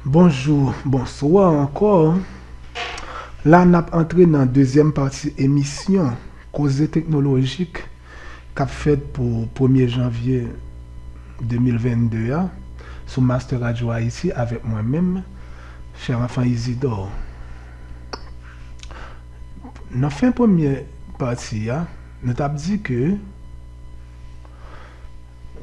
Bonjou, bonswa ankò, la n ap antre nan dezyèm pati emisyon koze teknolojik k ap fèt pou premye janvye 2022 a sou Master Radio Haïti avèk mwen menm Fèranfan Izidò. Nan fen premye pati a nou t ap di ke.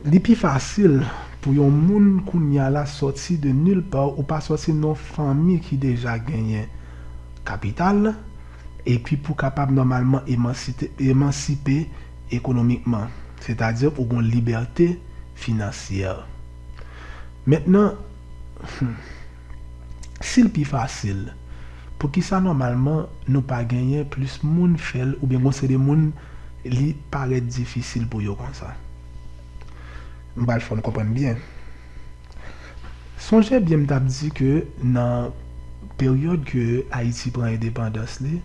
Li pi fasil pou yon moun kounya la sòti de nil part ou pa sòti nan yon fanmi ki deja genyen kapital epi pou kapab nòmalman emansipe ekonomikman sètadi ou gon libète finansyè mentnan Si l pi fasil, poukisa nòmalman nou pa genyen plis moun fè l oubyen gen yon seri de moun li parèt difisil pou yo konsa? M pral fè w konprann byen. Sonje byen m t ap di ke nan peryòd ke Ayiti pran endepandans li,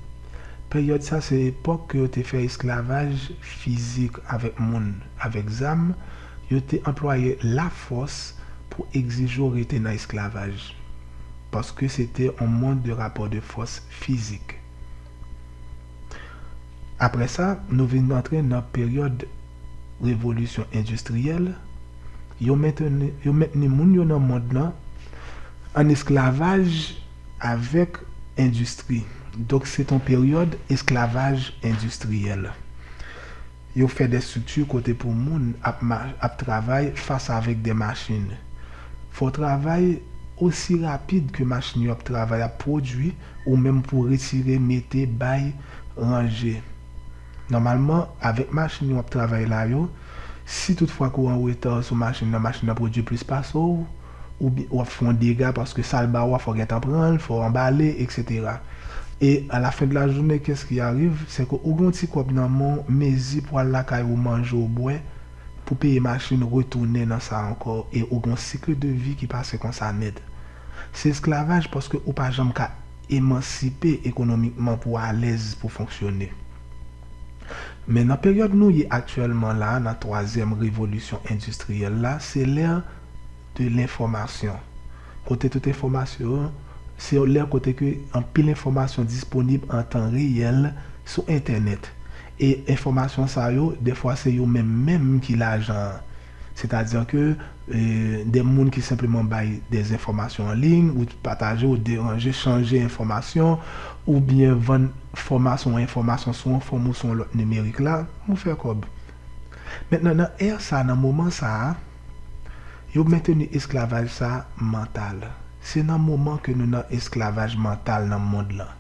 peryòd sa se epòk ke yo te fè esklavaj fizik avèk moun avèk zam, Yo te anplwaye lafòs pou egzije w rete nan esklavaj, paske se te yon mond de rapò de fòs fizik. Apre sa, nou vin antre nan peryòd Revolisyon Endistriyèl, yo menteni, yo mentni moun yo nan mond lan an esklavaj avèk endistri. Donk se te yon peryòd esklavaj endistriyèl. Yo fè de strikti kote pou moun ap ap travay fas avèk de machin. Fò travay osi rapid ke machin yo ap travay ap pwodui ou menm pou retire, mete, bay, ranje. Nòmalman, avèk machin wap travay la yo, si tout fwa ke w an reta sou machin nan, machin nan pwodui plis pase w, oubyen wap fè yon dega paske sal ba ou a fò gentan pranl, fò anbale etc. E a la fen de la journée qu'est-ce qui arrive? Se ke ou gen yon ti kòb nan men w mezi pou al lakay ou manje ou bwè pou peye machin retounen nan sa ankò e ou gen yon cycle de vie ki pase konsa nèt. Se esklavaj paske ou pa janm ka emansipe ekonomikman pou w alèz pou w fonksyone. Men nan peryòd nou ye aktyèlman la nan twazyèm revolisyon endistriyèl la se lè de lenfòmasyon. Kote tout enfòmasyon an, se yon lè kote ke anpil enfòmasyon disponib an tan reyèl sou entènèt. E enfòmasyon sa yo, dèfwa se yo menm menm ki lajan an. Setadi ke de moun ki senpleman bay de enfòmasyon an liy, ou pataje, ou deranje, chanje enfòmasyon, oubyen vann fòmasyon ou enfòmasyon sou yon fòm ou sou yon lòt nimerik la, ou fè kòb. Mentnan nan è sa, nan moman sa a. Yo menteni esklavaj sa mantal. Se nan moman ke nou nan esklavaj mantal nan mond lan.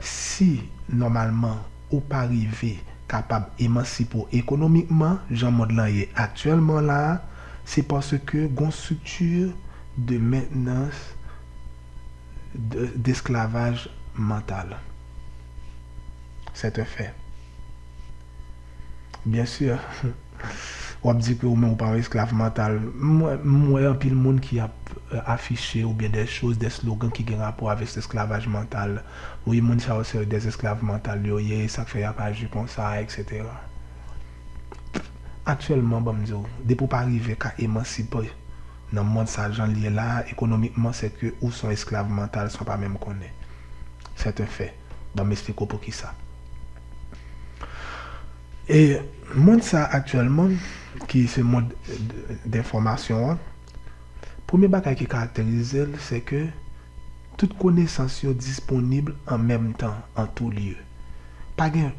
Si, nòmalman, ou pa rive kapab emansip ou ekonomikman, jan mond lan ye aktyèlman la a, se paske gon strikti de mentnans desklavaj mantal. Sèt un fè. Bien sûr. Wap di ke ou menm ou pa yon esklav mantal. M wè anpil moun ki ap afiche ou byen dè choz, dè slogan ki gen rapò avèk esklavaj mantal. Wi moun sa yo se dè esklav mantal yo ye, e sak fè yap aji konsa etc. Aktyèlman banm di w, depi ou pa rive ka emansipe nan mond sa jan l ye la a ekonomikman se ke ou son esklav mantal san w pa menm konnen. C'est un fait. Banm esplike w poukisa. E mond sa aktyèlman ki se mond denfòmasyon an, premye bagay ki karakterize l se ke tout konesans yo disponib an menm tan, an tou lye. Pa gen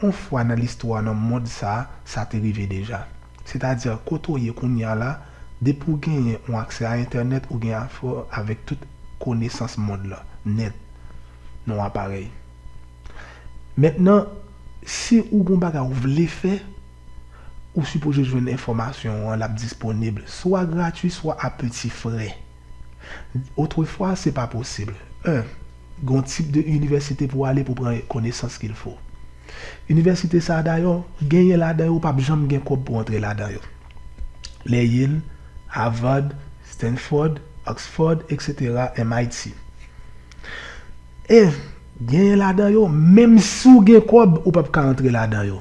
yon fwa nan listwa nan mond sa, sa te rive deja. Sètadi kote ou ye kounye a la, depi ou genyen yon aksè a entènèt ou gen afè avèk tout konesans mond lan, nèt, nan yon aparèy. Mentnan si ou gon bagay ou vle fè, ou sipoze jwenn enfòmasyon an lap disponib swa gratwi swa a peti frè. Otrefwa se pa posib, 1 gon tip de inivèsite pou ale pou pran konesans kil fo. Inivèsite sa dayò genyen ladan yo pap janm gen kòb pou antre ladan yo. Le Yale, Havard, Stanford, Oxford etc MIT. E. Genyen ladan yo menm si w gen kòb ou pap ka antre ladan yo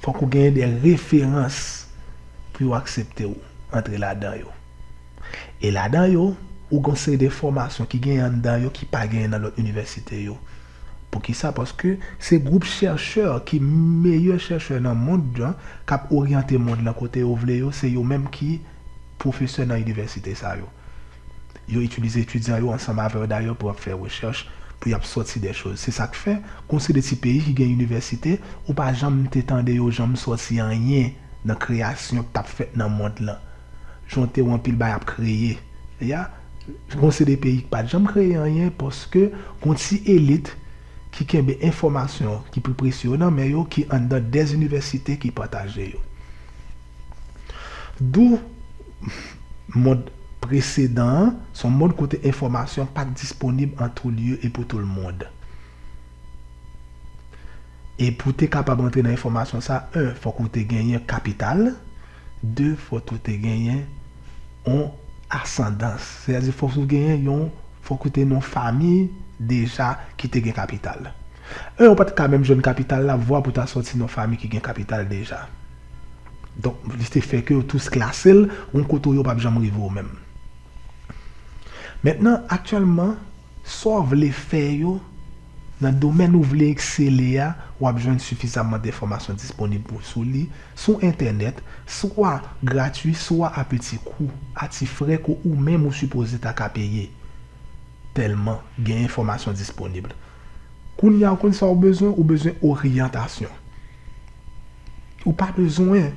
fòk ou genyen de referans pou yo aksepte w antre ladan yo e ladan yo ou gen yon seri de fòmasyon ki genyen anndan yo ki pa genyen nan lòt inivèsite yo poukisa paske se gwoup chèchè ki meyè chèchè nan mond lan kap oryante mond lan kote yo vle yo se yo menm ki pwofesè nan inivèsite sa yo. Yo itilize etidyan yo ansanm avè yo dayè pou y ap fè rechèch, pou y ap sòti dè choz. Se sa k fè, kon se de ti peyi ki gen inivèsite, ou pa janm te tande yo janm sòti anyen nan kreyasyon k t ap fèt nan mond lan. Jonte w anpil bay ap kreye. Ya Kon se de peyi k pa t janm kreye anyen paske gon ti elit ki kenbe enfòmasyon ki pi presye yo nan men yo ki anndan dè inivèsite ki pataje yo. Dou mond presedan an, se yon mond kote enfòmasyon pa t disponib an tou lye e pou tou l mond. E pou w te kapab antre nan enfòmasyon sa, 1 fòk ou te genyen kapital, 2 fòk ou te genyen yon asandans, sè a di fòk ou genyen yon, fòk ou te nan yon fami deja ki te gen kapital. 1 ou pa t ka menm jwenn kapital la, vwa pou w ta soti nan yon fami ki gen kapital deja. Donk li te fè ke yo tous klase l yon kote ou yo pap janm rive ou menm. Mentnan aktyèlman sa w vle fè yo nan domèn ou vle eksele a w ap jwenn sifizamman denfòmasyon disponib pou sou li sou entènèt swa gratui swa a peti kou a ti frè ke ou menm ou sipoze ta ka peye. Tèlman gen enfòmasyon disponib. Kounye a ou konn sa ou bezwen, ou bezwen oryantasyon. Ou pa bezwen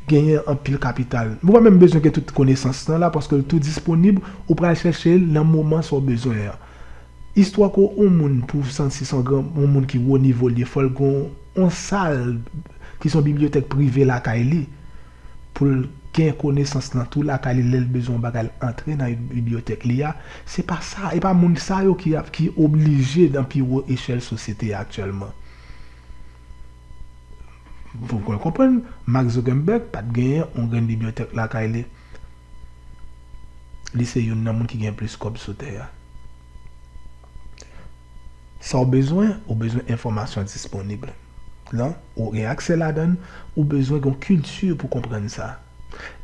genyen anpil kapital. Ou pa menm bezwen gen tout konesans nan la paske l tou disponib, ou pral chèche l nan moman sa ou bezwen an. Istwa kou on moun pou w santi se on moun ki wo nivo l ye fò l gen on sal ki se yon bibliyotèk prive lakay li. pou l gen konesans lan tou lakay li lè l bezwen yon bagay l antre nan bibliyotèk li a, se pa sa, e pa moun sa yo ki ki oblije nan pi wo echèl sosyete a aktyèlman. Fòk mwen konprann, Mark Zuckerberg pa t genyen yon grenn bibliyotèk lakay li. Li se youn nan moun ki gen plis kòb sou tè a. Sa w bezwen, ou bezwen enfòmasyon disponib. lan, ou gen aksè ladan l, ou bezwen gen yon kilti pou konprann sa.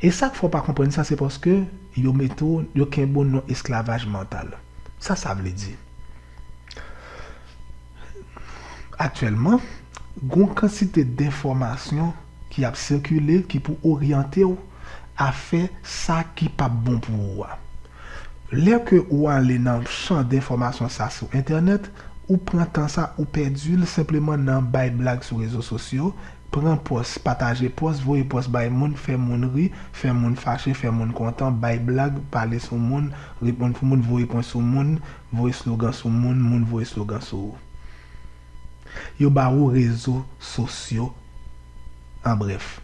E sa k fè w pa konprann sa se paske yo mete w, yo kenbe w nan esklavaj mantal. Sa sa vle di? Aktyèlman, gen yon kantite denfòmasyon ki ap sikile ki pou oryante w a fè sa ki p ap bon pou ou a. Lè ke ou ale nan chan denfòmasyon sa sou entènèt, ou pran tan sa, ou pèdi l senpleman nan bay blag sou rezo sosyo, pran pòs, pataje pòs, voye pòs bay moun, fè moun ri, fè moun fache, fè moun kontan, bay blag, pale sou moun, reponn pou moun, voye pwen sou moun, voye slogan sou moun, moun voye slogan sou ou. Yo ba ou rezo sosyo an brèf.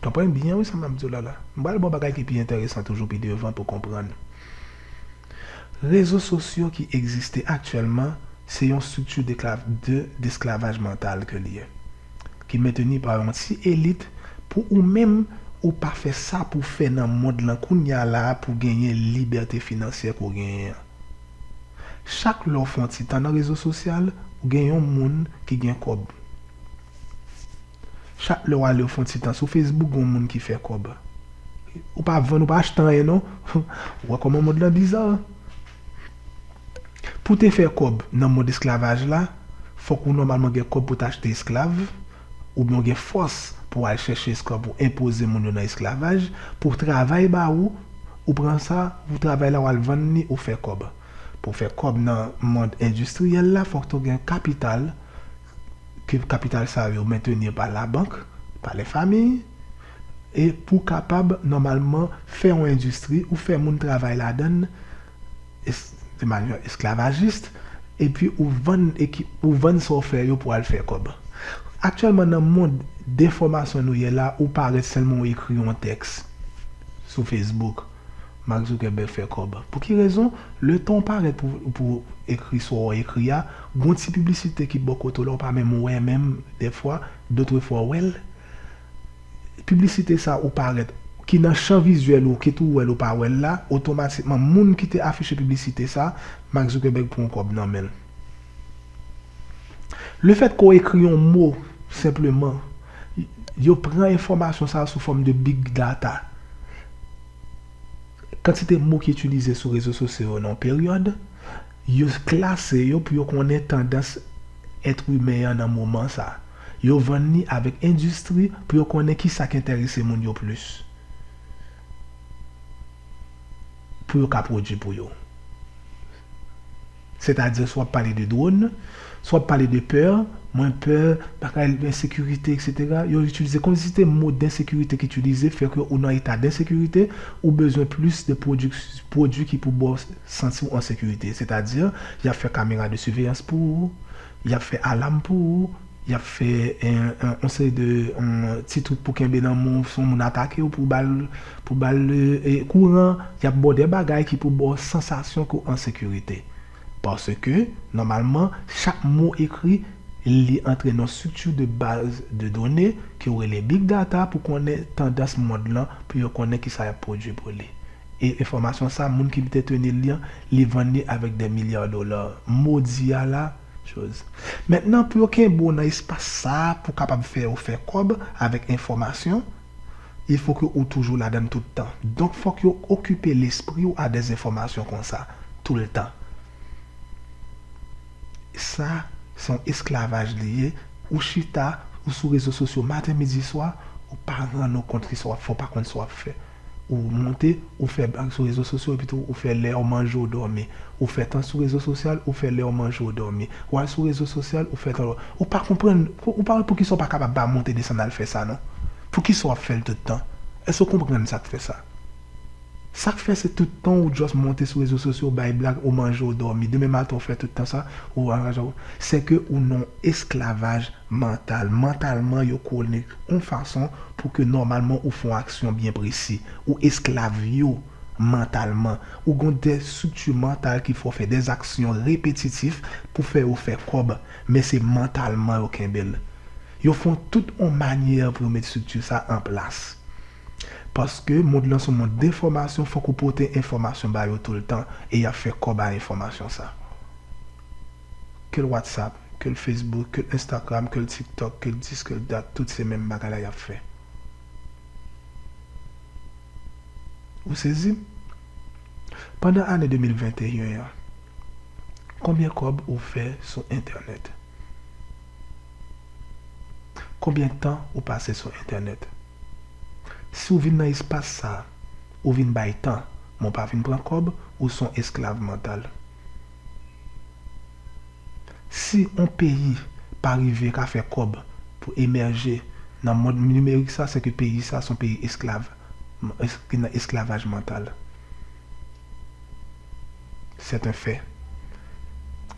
Konprann byen wi sa map diw la la. M pral baw bagay ki pi enteresan toujou pi devan pou konprann. Rezo sosyo ki egziste aktyèlman se yon strikti de desklavaj mantal ke li ye. Ki menteni pa yon ti elit pou ou menm ou pa fè sa pou fè nan mond lan kounya la pou genyen libète finansyè ke w genyen an. Chak lè w fon ti tan nan rezo sosyal ou gen yon moun ki gen kòb. Chak lè wale ou fon ti tan sou Facebook gon moun ki fè kòb. Ou pa vann ou pa achte anyen non. Ou wè kòman mond lan bizar an. Pou te fè kòb nan mond esklavaj la, fòk ou nòmalman gen kòb pou ta achte esklav, oubyen ou gen fòs pou al chèche esklav pou enpoze moun yo nan esklavaj, pou travay ba ou, ou pran sa, ou travay la wal vann li ou fè kòb. Pou fè kòb nan mond endistriyèl la fòk to gen kapital. ke kapital sa yo mentenir pa la bank, pa lè famiy, e pou kapab nòmalman fè yon endistri ou fè moun travay ladann de manyè esklavajist epi ou vann ekip ou vann sa w fè yo pou al fè kòb. Aktyèlman nan mond denfòmasyon nou ye la ou parèt sèlman ou ekri yon tèks sou facebook. Mark Zuckerberg fè kòb. Pou ki rezon? Letan w parèt pou pou w ekri sa w ekri a, gon ti piblisite ki bò kote w la w pa menm wè menm dèfwa, dotrefwa w wè l. Piblisite sa ou parèt, ki nan chan vizyèl ou, kit ou wè l ou pa wè l la, otomatikman moun ki te afiche piblisite sa, Mark Zuckerberg pran w kòb nan men l. Lefèt ke w ekri yon mo senpleman, yo pran enfòmasyon sa a sou fòm de big data. Kantite mo ki itilize sou rezo sosyo yo nan yon peryòd, yo klase yo pou yo konnen tandans èt imen an nan moman sa a. Yo vann li avèk endistri pou yo konnen ki sa k enterese moun yo plis pou yo ka pwodui pou yo. Sètadi sou wap pale de drone, sou wap pale de peur, mwen peur, bagay ensekirite etc. Yo itilize kondisite mo densekirite ki itilize fè ke ou nan eta densekirite, ou bezwen plis de pwodui ki pou baw santiw an sekirite. Sètadi yap fè kamera de siveyans pou ou, Y ap fè alam pou ou, y ap fè yon seri de ti twoup pou kenbe nan men w si yon moun atake w pou w ba l kouran, y ap ba w de bagay ki pou ba w sansasyon ke w an sekirite. Paske, nòmalman, chak mo ekri, li antre nan yon strikti de baz de done ke yo rele Big Data pou konnen tandans mond lan, pou yo konnen kisa y ap pwodui pou li. E enfòmasyon sa moun ki bte tenil li an li vann li avèk dè milyar dola modi a la choz. Mentnan pou yo kenbe w nan espas sa pou kapab fè yo fè kòb avèk enfòmasyon il fo ke ou toujou ladann tout tan. Donk fòk yo okipe lespri w a dè zenfòmasyon konsa toul tan. Sa se yon esklavaj li ye ou chita ou sou rezo sosyo maten midi swa ou pa rann ou kont ki sa w ap fè ou pa konn sa w ap fè. Ou moute, ou fè blag sou rezo sosyo epitou ou fè lèw manje ou dòmi. Ou fè tan sou rezo sosyal, ou fè lèw manje ou dòmi. Wal sou rezo sosyal, ou fè tan lò. Ou pa konprann, ou pa wè poukisa ou pa kapab pa moute desann al fè sa non. Poukisa wap fèl tout tan? Èske ou konprann sak fè sa? Sak fè se tout tan ou just moute sou rezo sosyo ou bay blag, ou manje ou dòmi. Demen maten ou fè tout tan sa, ou anraje ou. Sèke ou nan esklavaj. Mantal, Mantalman yo kole yon fason pou ke nòmalman ou fè yon aksyon byen presi. Ou esklav yo mantalman. Ou gen de estrikti mantal ki fè w fè de aksyon repetitif pou fè yo fè kòb, men se mantalman yo kenbe l. Yo fè tout yon manyè pou yo met estrikti sa an plas. Paske mond lan se yon mond denfòmasyon, fòk ou pote enfòmasyon ba yo toultan e y ap fè kòb a enfòmasyon sa. Kel whatsapp. Ke l Facebook, ke l Instagram, ke l TikTok, ke l this, ke l that, tout se menm bagay la y ap fè. Ou sezi? Pandan ane 2021 an, konbyen kòb ou fè sou entènèt? Konbyen tan ou pase sou entènèt? Si w vin nan espas sa a, ou vin bay tan, men w pa vin pran kòb, ou s on esklav mantal. Si on peyi pa rive ka fè kòb pou emèje nan mond nimerik sa, se ke peyi sa son peyi esklav, ki nan esklavaj mantal. C'est un fait.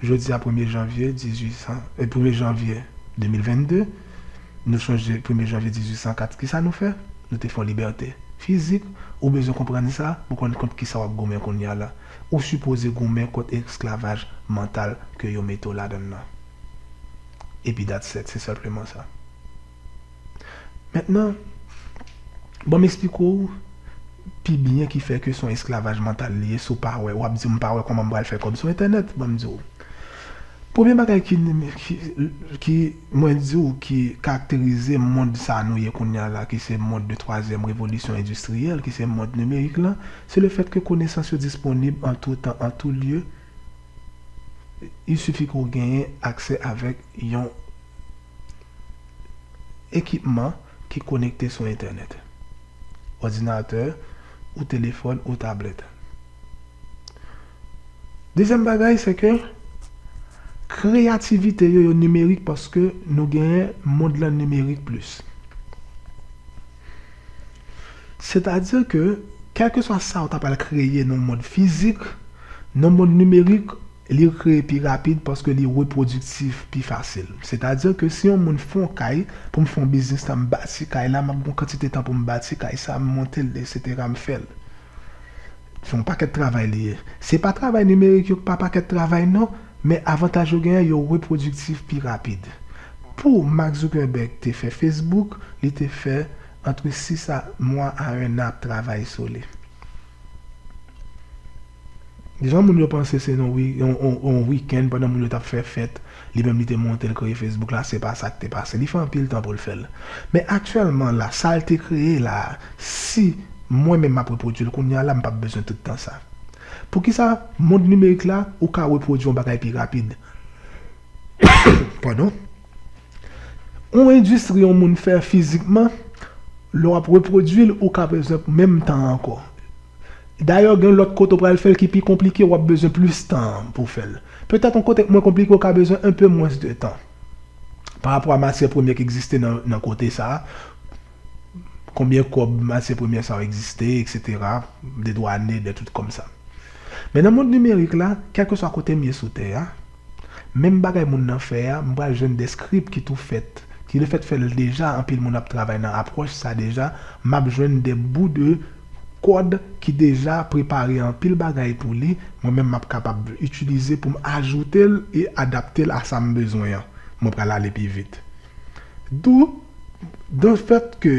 Jodi a premye janvye 1800, premye janvye 2022, nou sonje premye janvye 1804 kisa nou fè? Nou te fè on libète fizik, ou bezwen konprann sa pou konn kont kisa wap goumen kounya la. Ou sipoze goumen kont esklavaj mantal ke yo mete w ladann nan. Epi that's set, se senpleman sa. Mentnan, ban m esplike w pi byen ki fè ke son esklavaj mantal li ye si w pa wè, wap di m pa wè kòman m pral fè kòb sou entènèt, ban m di w. Premye bagay ki Mwen di w ki karakterize mond sa nou ye kounye a la ki se mond de twazyèm revolisyon endistriyèl ki se mond nimerik lan, se le fèt ke konesans yo disponib an tou tan an tou lye, il suffit ke w genyen aksè avèk yon ekipman ki konekte sou entènèt, òdinatè ou telefòn ou tablèt. Dezyèm bagay se ke kreyativite yo yo nimerik paske nou genyen mond lan nimerik plis. Sètadi ke kèlkeswa sa ou ta pral kreye nan mond fizik, nan mond nimerik li kreye pi rapid paske li repwodiktif pi fasil. Sètadi ke si yon moun fè yon kay, pou m fè yon biznis la, m bati kay la, m ap gen yon kantite tan pou m bati kay sa, m monte l, essetera, m fè l. Se yon pakèt travay li ye. Se pa travay nimerik yo pa pakèt travay non, men avantaj yo genyen yo repwodiktif pi rapid. Pou Mark Zuckerberg te fè Facebook, li te fè antre 6 a mwa a 1 nan ap travay sou li. Jan moun yo panse se yon yon yon wikenn pandan moun yo t ap fè fèt Li menm li te monte l kreye Facebook la se pa sa k te pase. Li fè anpil tan pou l fè l. Men aktyèlman la, sa l te kreye la a, si mwen menm m ap repwodui l kounye a la, m pap bezwen tout tan sa. Poukisa? Mond nimerik la, ou ka repwodui yon bagay pi rapid. Padon. Yon endistri yon moun fè fizikman, lè w ap repwodui l, ou ka bezwen menm tan an ankò. Dayè gen lòt kote ou pral fè l ki pi konplike, w ap bezwen plis tan pou w fè l. Petèt yon kote k mwen konplike ou ka bezwen enpe mwens de tan pa rapò a matyè premyè k egziste nan kote sa a, konbyen kòb matyè premyè sa yo egziste eksetera, de dwane, de tout kòm sa. Men nan mond nimerik la, kèlkeswa kote m ye sou tè a, menm bagay moun nan fè a, m pral jwenn de script ki tou fèt, ki lefèt fè l deja anpil moun ap travay nan apwòch sa deja, m ap jwenn de bou de. Kòd ki deja prepare anpil bagay pou li, mwen menm map kapab itilize pou m ajoute l e adapte l a sa m bezwen an, mwen pral ale pi vit. Dou, de fèt ke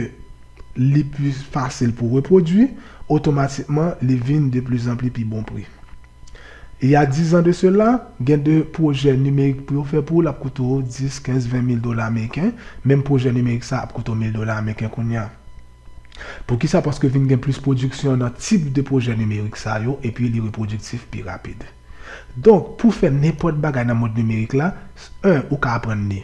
li pi fasil pou repwodui, otomatikman li vin de pli zan pli pi bon pri. Il y a dix ans de cela, gen de pwojè nimerik pou yo fè pou ou, l ap koute w 10, 15, 20 mil dola meriken, menm pwojè nimerik sa ap koute w mil dola meriken kounya. Poukisa? Paske vin gen plis pwodiksyon nan tip de pwojè nimerik sa yo epi li repwodiktif pi rapid. Donk, pou fè nenpòt bagay nan mond nimerik la, 1 ou ka aprann li,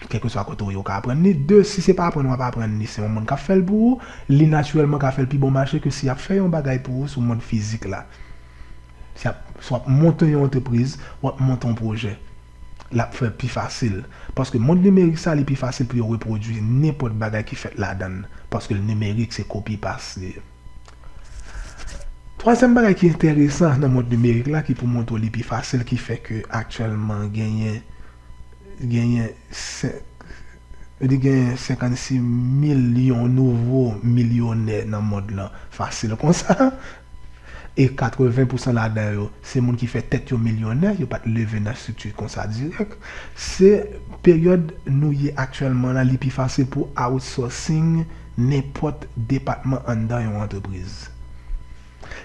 kèlkeswa kote ou ye ou ka aprann li, 2 si se pa aprann w ap aprann li, se yon moun k ap fè l pou ou, li natirèlman ka fè l pi bon mache ke si y ap fè yon bagay pou ou sou mond fizik la. Si w ap monte yon antrepriz, w ap monte yon pwojè. l ap fè pi fasil. Paske mond nimerik sa li pi fasil pou yo repwodui nenpòt bagay ki fèt ladan l paske l nimerik se kopi pas li. Twazyèm bagay ki enteresan nan mond nimerik la ki pou montre w li pi fasil ki fè ke aktyèlman genyen genyen li genyen 56 milyon nouvo milyonè nan mond lan fasil konsa e 80 pousan ladan yo se moun ki fè tèt yo milyonè, yo pa t leve nan estrikti konsa dirèk. Se peryòd nou ye aktyèlman la, li pi fasil pou outsourcing nenpòt depatman anndan yon antrepriz.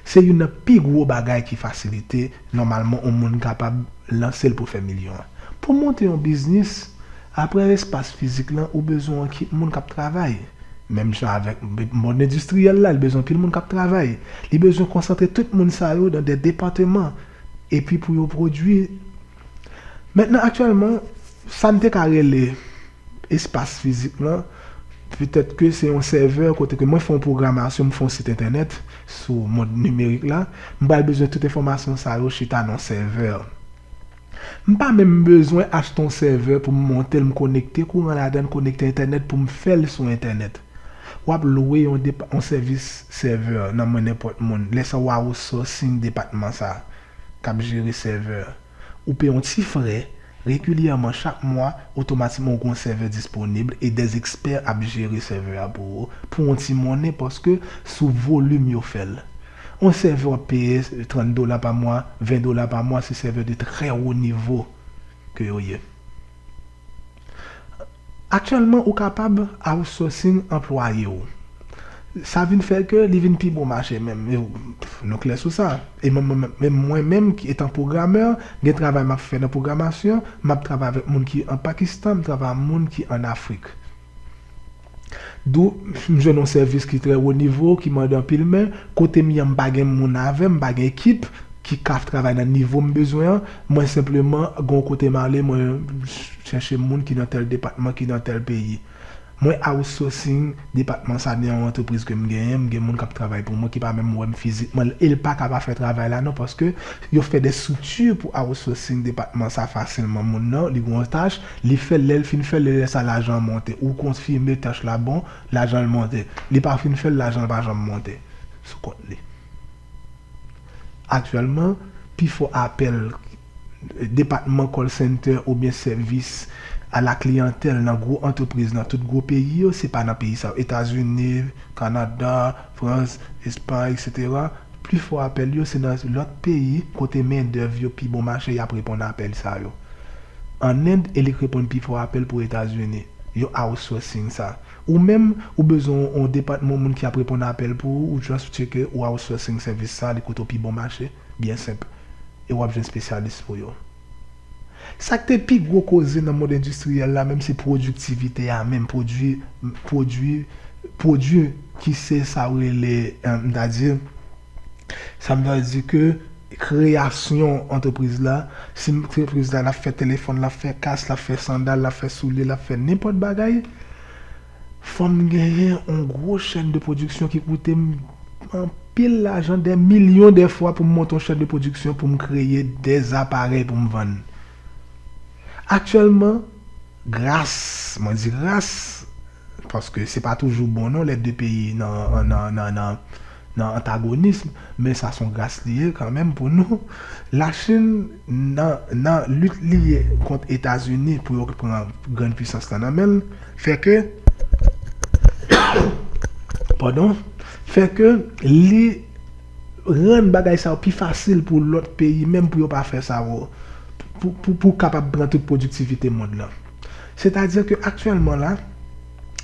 Se youn nan pi gwo bagay ki fasilite nòmalman yon moun kapab lanse l pou fè milyon. Pou monte yon biznis, Apre espas fizik lan, ou bezwen yon ekip moun k ap travay. Menm jan avèk mond endistriyèl la, li bezwen anpil moun k ap travay. Li bezwen konsantre tout moun sa yo nan de depateman epi pou yo pwodui. Mentnan aktyèlman, sa n te ka rele espas fizik lan, petèt ke se yon sèvè kote ke mwen fè yon pwogramasyon, m fè yon sit entènèt sou mond nimerik la, m pral bezwen tout enfòmasyon sa yo chita nan yon sèvè. M pa menm bezwen achte yon sèvè pou m monte l m konekte kouran ladan l konekte entènèt pou m fè l sou entènèt. W ap lwe yon yon sèvis sèvè nan men nenpòt moun. Lè sa w a outsourcing depatman sa k ap jere sèvè. Ou peye yon ti frè, regilyèman chak mwa, otomatikman ou gen yon sèvè disponib e des experts ap jere sèvè a pou ou pou yon ti monnen paske sou volim yo fè l. On sèvè wap peye 30 dola pa mwa, 20 dola pa mwa se sèvè de trè wo nivo ke yo ye. Aktyèlman ou kapab outsourcing anplwaye ou. Sa vin fè ke li vin pi bon mache menm. Nou klè sou sa. E menm mwen menm etan pwogrammè, gen travay map fè nan pwogramasyon, map travay avèk moun ki an Pakistan, m travay a moun ki an Afrik. Dou, M jwenn yon sèvis ki trè wo nivo, ki mande anpil men, kote m ye an m pa gen moun avè m, m pa gen ekip ki ka travay nan nivo m bezwen an. Mwen senpleman gen yon kote m ale, mwen chèche moun ki nan tèl depatman, ki nan tèl peyi. Mwen outsourcing depatman sa nan yon antrepriz ke m genyen, m gen moun k ap travay pou mwen ki pa menm wè m fizikman e l pa ka pa fè travay la non paske yo fè de strikti pou outsourcing depatman sa fasilman moun nan li gen yon tach Li fèl lèl fin fèl li lè sa lajan monte ou konfime tach la bon lajanl monte li pa fin fèl lajanl pa janm monte sou kont li aktyèlman pifò apèl depatman call center oubyen sèvis a la kliyantèl nan gwo antrepriz nan tout gwo peyi yo se pa nan peyi sa yo etazini kanada Frans, Espan, etc. Pli fò apèl yo se nan lòt peyi kote men dèv yo pi bon mache yap reponn apèl sa yo. An End elik reponn pi fò apèl pou Etazini. Yo outsourcing sa. Ou menm, ou bezwen on depatman moun ki ap reponn apèl pou ou, ou just tyeke ou outsourcing sèvis sa li koute w pi bon mache, byen senp. E wap jwenn spesyalis pou yo. Sa k te pi gwo koze nan mond endistriyèl la menm se pwodiktivite a menm, pwodui, pwodui, pwodui ki se sa ou rele, m ta di, sa m ta di ke kreyasyon antrepriz la, si antrepriz la l ap fè telefòn, l ap fè kas, l ap fè sandal, l ap fè soulye, l ap fè nenpòt bagay, Fòm genyen on gwo chèn de pwodiksyon ki koute m anpil lajan, dè milyon dè fwa pou m monte on chèn de pwodiksyon pou m kreye dè aparèy pou m vann. Aktyèlman, gras, mwen di gras, paske se pa toujou bon non lè de peyi nan, nan, nan. nan antagonism men sa son gras li ye kanmenm pou nou la chinn nan nan lit li ye kont etazini pou yo k pran grand pwisans lan nan menl fè ke pardon fè ke li rann bagay sa yo pi fasil pou lot peyi menm pou yo pa fè sa yo pou pou pou kapab pran tout pwodiktivite mond lan se ta di ke aktyèlman la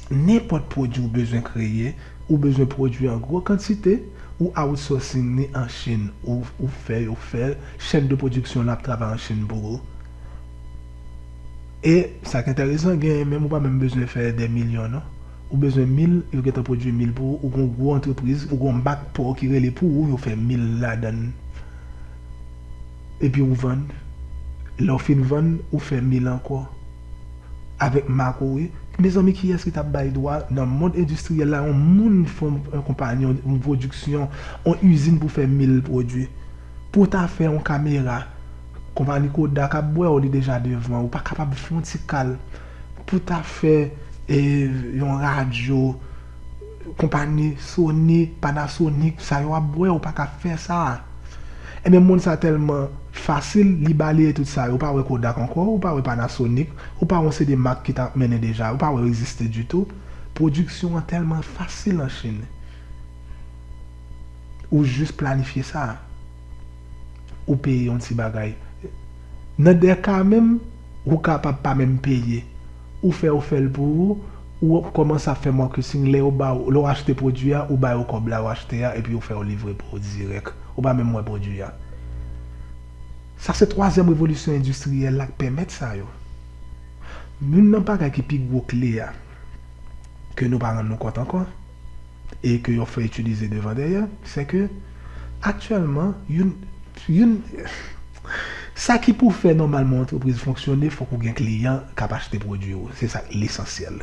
nenpot pwodwi ou bezwen kreye Ou bezwen pwodwi an gwo kantite, ou outsourcing li an Chin, ou fè yo fè l, chèn de pwodiksyon lan ap travay an Chin pou ou. E sa ki enteresan, genyen menm ou pa menm bezwen fè dè milyon non. Ou bezwen mil, yo gentan pwodwi mil pou ou, ou gen yon gwo antrepriz, ou gen yon mak pa w ki rele pou ou, yo fè mil ladan l, epi ou vann. Lè w fin vann, ou fè mil ankò. avèk makowe mezanmi kiyès ki tap bay dwa nan mond endistriyèl la yon moun fon yon konpayi yon pwodiksyon yon izin pou fè mil pwodwi pou ta fè yon kamera konpayi kodak ap bwèw li deja devan ou pa kapab fon ti kal pou ta fè yon radyo. Konpani Sony, Panasonic sa yo ap bwè ou pa ka fè sa. Ebyen mond sa tèlman fasil li baleye tout sa yo ou pa wè Kodak ankò ou pa wè Panasonic ou pa wè yon seri de mak ki ta ap mennen deja ou pa wè yo egziste ditou. Pwodiksyon an tèlman fasil an Chine ou jis planifye sa ou peye yon ti bagay. Nan 2 ka menm ou kapab pa menm peye. Ou fè yo fèl pou ou, ou kòmanse ap fè marketing lè yo ba ou, lè ou achte pwodwi a ou ba yo kòb la yo achte a epi yo fè yo livre pou ou dirèk, ou pa menm wè pwodwi a. Sa se twazyèm revolisyon endistriyèl la k pèmèt sa yo. Youn nan bagay ki pi gwo kle a ke nou pa rann nou kont ankò. e ke yo fè itilize devan dèyè, se ke aktyèlman youn, youn, sa ki pou fè nòmalman yon antrepriz fonksyone fòk ou gen kliyan k ap achte pwodui ou, se sa k lesansyèl.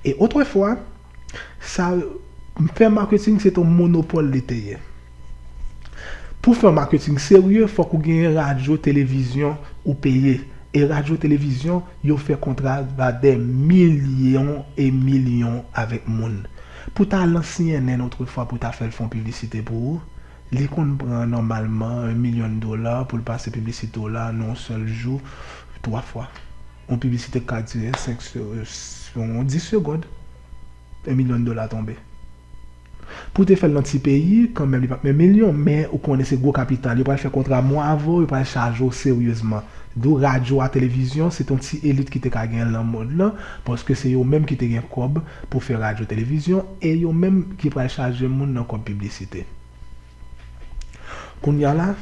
E otrefwa, sa, fè maketing se te yon monopòl li te ye. Pou fè yon maketing serye fòk ou genyen radyo televizyon ou peye e radyo televizyon yo fè kontra ba dè milyon e milyon avèk moun. Pou ta lan cnn otrefwa pou ta fèl fon piblisite pou ou li konn pran nòmalman 1 milyon dola poul pase piblisite w la nan yon sèl jou 3 fwa. Yon piblisite ka dire 5 10 segond. 1 milyon dola tonbe. Pou te fèl nan ti peyi kanmenm li pap 1 milyon men ou konnen se gwo kapital yo pral fè kontra mwen avèw yo pral chajew seryezman dou radyo a televizyon se ton ti elit kite ka genyenl nan mond lan paske se yo menm kite gen kòb pou fè radyo televizyon e yo menm ki pral chaje moun nan kòb piblisite. Kounya la,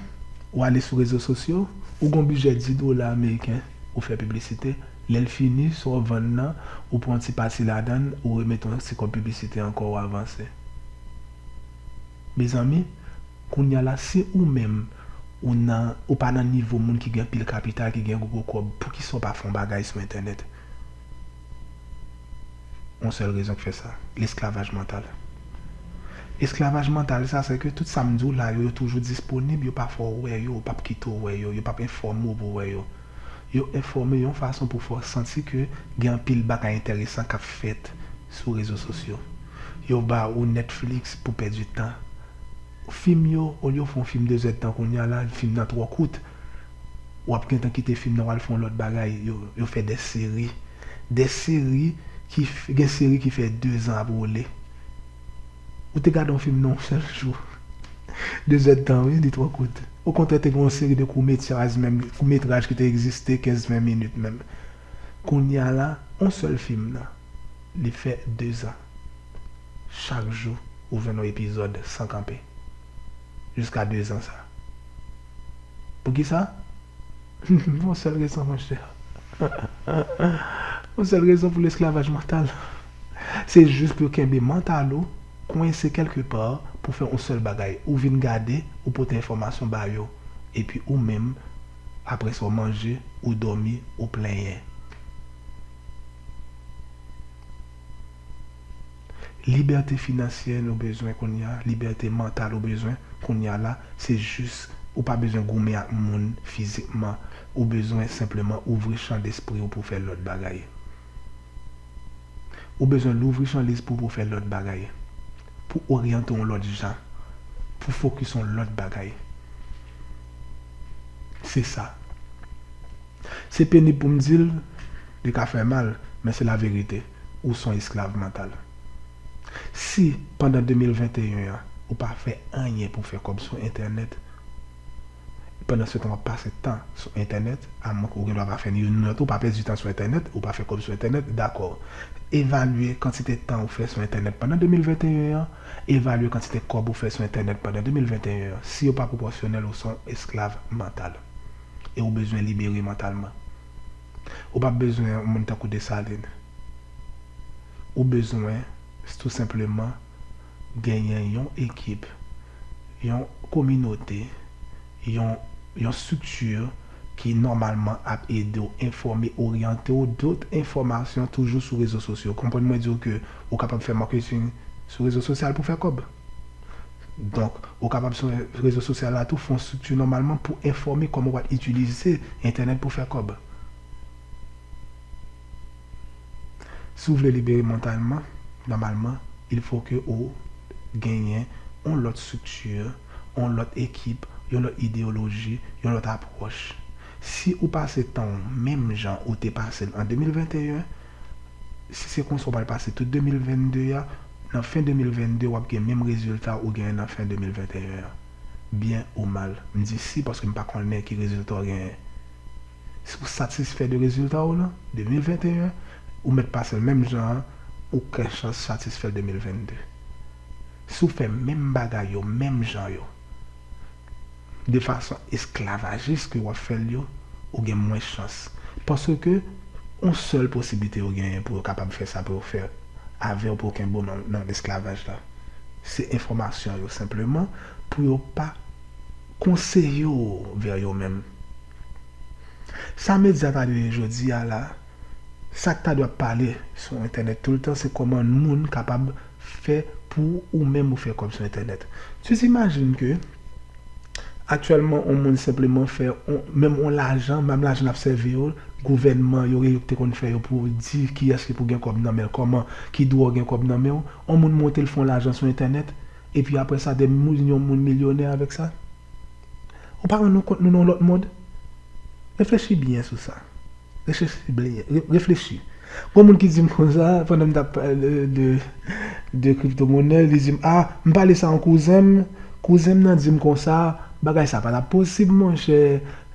ou ale sou rezo sosyo, ou gon bijè 10 dola ameriken, ou fè piblisite, lè l fini, sa w vann nan, ou pran yon ti pati ladan l, ou remete yon ti kòb piblisite ankò, ou avanse. Mezanmi, kounya la, si ou menm, ou nan, ou pa nan nivo moun ki gen pil kapital, ki gen gwo kòb, poukisa w pa fè yon bagay sou entènèt? Yon sèl rezon k fè sa, lesklavaj mantal. Esklavaj mantal sa, sè ke tout sa m di w la yo, yo toujou disponib, yo pa fè w wè yo, yo pa p kite w wè yo, yo pa p enfòme w pou w wè yo. Yo enfòme yon fason pou fè w santi ke gen anpil bagay enteresan k ap fèt sou rezo sosyo. Yo ba ou Netflix pou pèdi tan. Fim yo, olye yo fè yon fim dezèdtan kounya la, fim nan twò kout. wap gentan kite fim nan wal fè yon lòt bagay yo fè des seri des seri ki gen seri ki fè 2 zan ap woule ou te gade yon fim nan yon sèl jou 2 zèd tan wi li twò kout okontrè te gen yon seri de kou metyaj menm kou metraj ki te egziste 15 20 minit menm kounya la yon sèl fim nan li fè 2 zan chak jou ou jwenn yon epizòd san kanpe. jiska 2 zan sa. Poukisa? Pou yon sèl rezon monchè. Yon sèl rezon pou lesklavaj mantal. Se jis pou yo kenbe mantal ou kwense kèlke pa pou fè yon sèl bagay. Ou vin gade, ou pote enfòmasyon ba yo. Epi ou menm, apre sa w manje, ou dòmi, ou plenyen. Libète finansyè nou bezwen kounye a, libète mantal ou bezwen kounye a la, se jis ou pa bezwen goumen ak moun fizikman, ou bezwen senpleman ouvri chan despri ou pou fè lòt bagay. Ou bezwen louvri chan lespri w pou fè lòt bagay, pou oryante w yon lòt jan, pou fokis yon lòt bagay. Se sa. Se penib pou m di l, li ka fè mal, men se laverite. ou son esklav mantal. Si pandan 2021 an ou pa fè anyen pou fè kòb sou entènèt, pandan se tan wap pase tan sou entènèt, a mwen ke ou gen dwa pa fè ni youn ni lòt, ou pa pèdi tan sou entènèt, ou pa fè kòb sou entènèt, dakò. Evalye kantite tan ou fè sou entènèt pandan 2021 an, evalye kantite kòb ou fè sou entènèt pandan 2021 an, si yo pa pwopòsyonèl ou son esklav mantal. E ou bezwen libere mantalman. Ou pa bezwen yon moun tankou Desalin. Ou bezwen tou senpleman genyen yon ekip, yon kominote, yon yon strikti ki nòmalman ap ede w enfòme, oryante w dot enfòmasyon toujou sou rezo sosyo. Konprann mwen di w ke ou kapab fè marketing sou rezo sosyal pou fè kòb. Donk, ou kapab sou rezo sosyal la tou fon strikti nòmalman pou enfòme kòman wap itilize entènèt pou fè kòb. Si w vle libere mantalman, nòmalman il fo ke ou genyen yon lòt strikti, yon lòt ekip, yon lòt ideyoloji, yon lòt apwòch. Si ou pase tan w menm jan ou te pase l an 2021, Si se konsa ou pral pase tout 2022 a, nan fen 2022 wap gen menm rezilta ou genyen nan fen 2021 an. Byen ou mal. M di si paske m pa konnen ki rezilta w genyen. Si w satisfè de rezilta w nan 2021, ou mèt pase l menm jan an, ou kè chans satisfè l 2022. Si w fè menm bagay yo menm jan yo. de fason esklavajis ke wap fèl yo ou gen mwens chans paske on sèl posiblite yo genyen pou yo kapab fè sa pou yo fè avèw pou yo kenbew nan esklavaj la se enfòmasyon yo senpleman pou yo pa konseyew vè yo menm sa medya ta dwe ye jodi a la sak ta dwe ap pale sou entènèt toultan se kòman moun kapab fè pou ou menm ou fè kòb sou entènèt tu t'imagines ke aktyèlman on moun senpleman fè on menm on lajan menm lajan nap sèvi yo gouvènman yo gen yo ki te konn fè yo pou di kiyès ki pou gen kòb nan menl kòman ki dwe w gen kòb nan menw on moun montel fon lajan sou entènèt epi aprè sa de moun yon moun milyonè avèk sa. Ou pa rann ou kont nou nan yon lòt mond? Reflechi byen sou sa. Rechechi byen. Reflechi. Gon moun ki di m konsa, pandan m t ap pale de de kripto monè, li di m, a, m pale sa yon kouzen m, kouzen m nan di m konsa, bagay sa pa t ap posib monchè,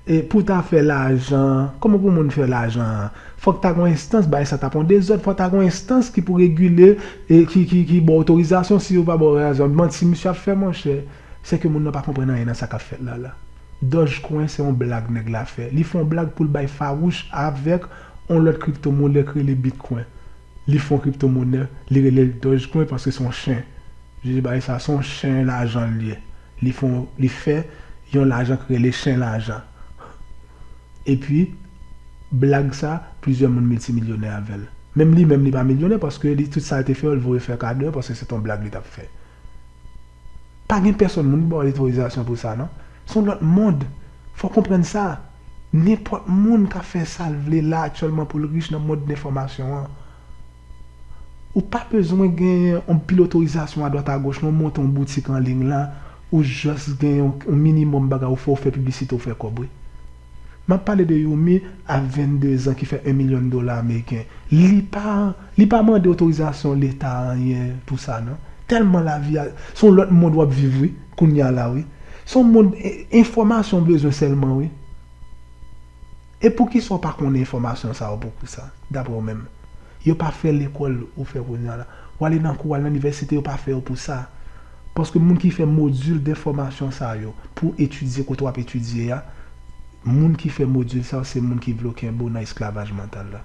e pou w ta fè lajan, kòman pou moun fè lajan an? Fòk ta gon enstans, bagay sa t ap yon dezòd, fòk ta gon enstans ki pou regile, ki ki ki ba w otorizasyon, si yo pa ba w otorizasyon, manti misye ap fè monchè. Se ke moun nan pa konprann anyen nan sa kap fèt la la. Dogecoin se yon blag nèg la fè. Li fè yon blag poul bay fawouch avèk yon lòt crypto monè ki rele bitcoin. Li fè yon crypto monè, li relel dogecoin paske se yon chen. Jije bagay sa, se yon chen lajan li ye. Li fè yon, li fè yon lajan ki rele chen lajan. Epi blag sa, plizyè moun miltimilyonè avèl. Menm li menm li pa milyonè paske li tout sal te fè yo li voye fè kado yo paske se te yon blag li tap fè. Pa gen pèsòn moun ki ba w otorizasyon pou sa non. Se yon lòt mond. Fò w konprann sa. Nenpòt moun ka fè sa l vle la aktyèlman pou l rich nan mond lenfòmasyon an. Ou pa bezwen gen yon pil otorizasyon adwat agoch non, ou monte yon boutik anliy la, ou jòs gen yon minimòm bagay ou fè, ou fè piblisite ou fè kòb wi. M ap pale de Yomi a 22 zan ki fè 1 milyon dola ameriken. Li pa li pa mande otorizasyon leta anyen pou sa non. Tèlman lavi a se yon lòt mond w ap viv wi kounya la wi. Se yon mond enfòmasyon w bezwen sèlman wi. E poukisa w pa konnen enfòmasyon sa yo poukisa daprè w menm? Yo pa fè lekòl ou fè kounya la. W ale nan kou, w ale nan inivèsite yo pa fè yo pou sa. Paske moun ki fè modil de fòmasyon sa yo pou etidye kote w ap etidye a, moun ki fè modil sa yo se moun ki vle w kenbe w nan esklavaj mantal la.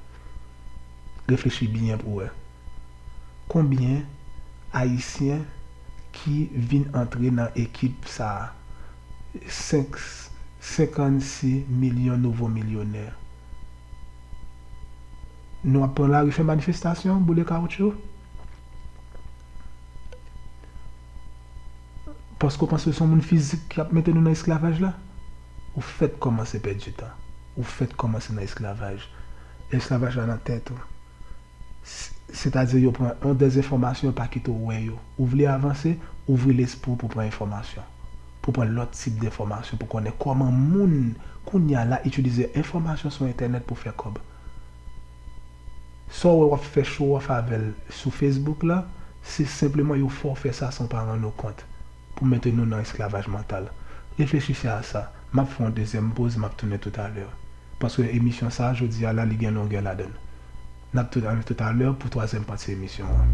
Reflechi byen pou w wè. Konbyen Ayisyen ki vin antre nan ekip sa a? 5, 56 milyon nouvo milyonè. Nou ap pran lari fè manifestasyon, boule kawoutchou? Paske ou panse se yon moun fizik ki ap mete nou nan esklavaj la? Ou fèk kòmanse pèdi tan. Ou fèk kòmanse nan esklavaj. Esklavaj la nan tèt ou. Sètadi yo pran yon dezenfòmasyon yo pa kite ou wè yo. Ou vle avanse, ouvri lespri ou pou pran enfòmasyon. Pou pran lòt tip denfòmasyon, pou konnen kòman moun kounya la itilize enfòmasyon sou entènèt pou fè kòb. Saw wè wap fè show off avèl sou Facebook la, se senpleman yo fèw fè sa san w pa rann ou kont, pou mete nou nan esklavaj mantal. Reflechise a sa. Map fè yon dezyèm poz map tounen toutalè. Paske emisyon sa jodi a la li gen longè ladann. Nap tounen toutalè pou twazyèm pati emisyon an.